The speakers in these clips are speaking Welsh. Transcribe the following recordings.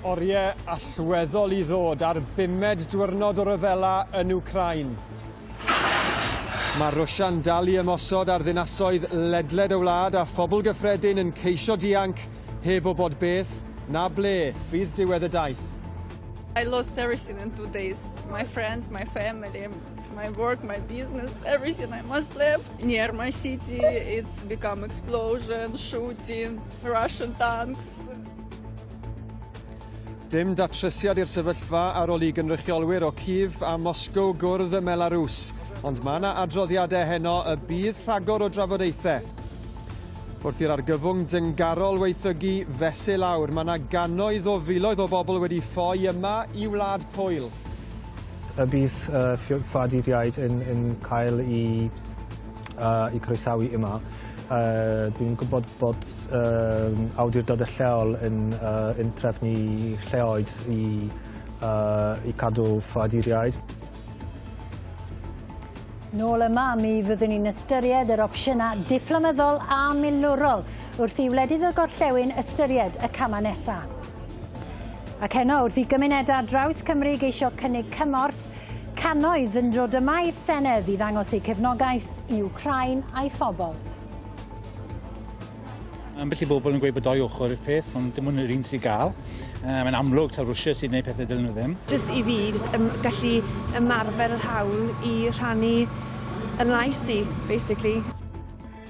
Oriau allweddol i ddod ar bumed diwrnod o ryfela yn Wcrain. Mae Rwsia'n dal i ymosod ar ddinasoedd ledled y wlad a phobl gyffredin yn ceisio dianc heb o bod beth na ble fydd diwedd y daith. I lost everything in two days. My friends, my family. my work, my business, everything I must leave. Near my city, it's become explosion, shooting, Russian tanks. Dim datresiad i'r sefyllfa ar ôl i gynrychiolwyr o Cif a Moscow gwrdd y Melarws, ond mae yna adroddiadau heno y bydd rhagor o drafodaethau. Wrth i'r argyfwng dyngarol weithygu fesul awr, mae yna gannoedd o filoedd o bobl wedi ffoi yma i Wlad Pwyl. A bydd yy ffoaduriaid yn yn cael i yy i croesawu yma. Yy dwi'n gwybod bod yym awdurdode lleol yn yy yn trefnu lleoedd i yy i cadw ffoaduriaid. Nôl yma, mi fyddwn ni'n ystyried yr opsiynau diplomyddol a milwrol wrth i wledydd y gorllewin ystyried y camau nesaf. Ac heno, wrth i gymunedau ar draws Cymru geisio cynnig cymorth, cannoedd yn dod yma i'r Senedd i ddangos eu cefnogaeth i Wcráin a'i phobl. Ambell i bobl yn gweud bod doi ochr i'r peth, ond dim ond yr un sy'n gael. Uh, mae'n amlwg taw Rwysia sy'n gwneud pethau dylun nhw ddim. Just i fi, just ym, gallu ymarfer yr hawl i rhannu yn lais i, basically.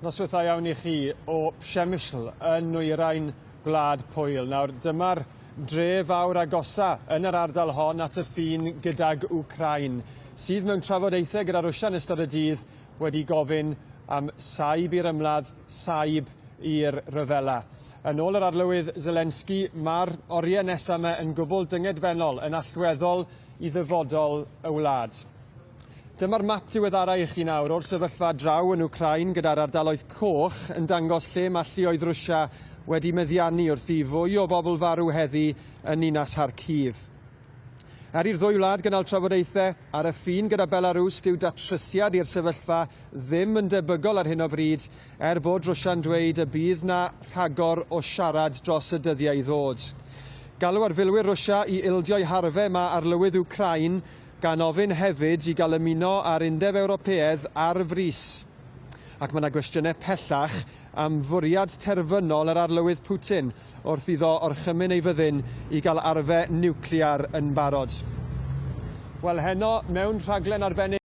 Noswaith dda iawn i chi o Przemysl yn nwyrain Gwlad Pwyl. Nawr, dyma'r dre fawr agosa yn yr ardal hon at y ffin gydag Wcrain, sydd mewn trafodaethau gyda Rwsia yn ystod y dydd wedi gofyn am saib i'r ymladd, saib i'r rhyfela. Yn ôl yr arlywydd Zelensky, mae'r oriau nesaf yma yn gwbl dyngedfennol, yn allweddol i ddyfodol y wlad. Dyma'r map diweddara' i chi nawr o'r sefyllfa draw yn Wcráin gyda'r ardaloedd coch yn dangos lle mae lluoedd Rwsia wedi meddiannu wrth i fwy o bobl farw heddi yn ninas Kharkiv. Er i'r ddwy wlad gynnal trafodaethau ar y ffin gyda Belarws, dyw datrysiad i'r sefyllfa ddim yn debygol ar hyn o bryd, er bod Rwsia'n dweud y bydd 'na rhagor o siarad dros y dyddiau i ddod. Galw ar filwyr Rwsia i ildio'u harfau mae arlywydd Wcráin gan ofyn hefyd i gael ymuno â'r Undeb Ewropeaidd ar frys. Ac mae yna gwestiynau pellach am fwriad terfynol yr Arlywydd Putin wrth iddo orchymyn ei fyddin i gael arfe niwclear yn barod. Wel, heno, mewn rhaglen arbennig,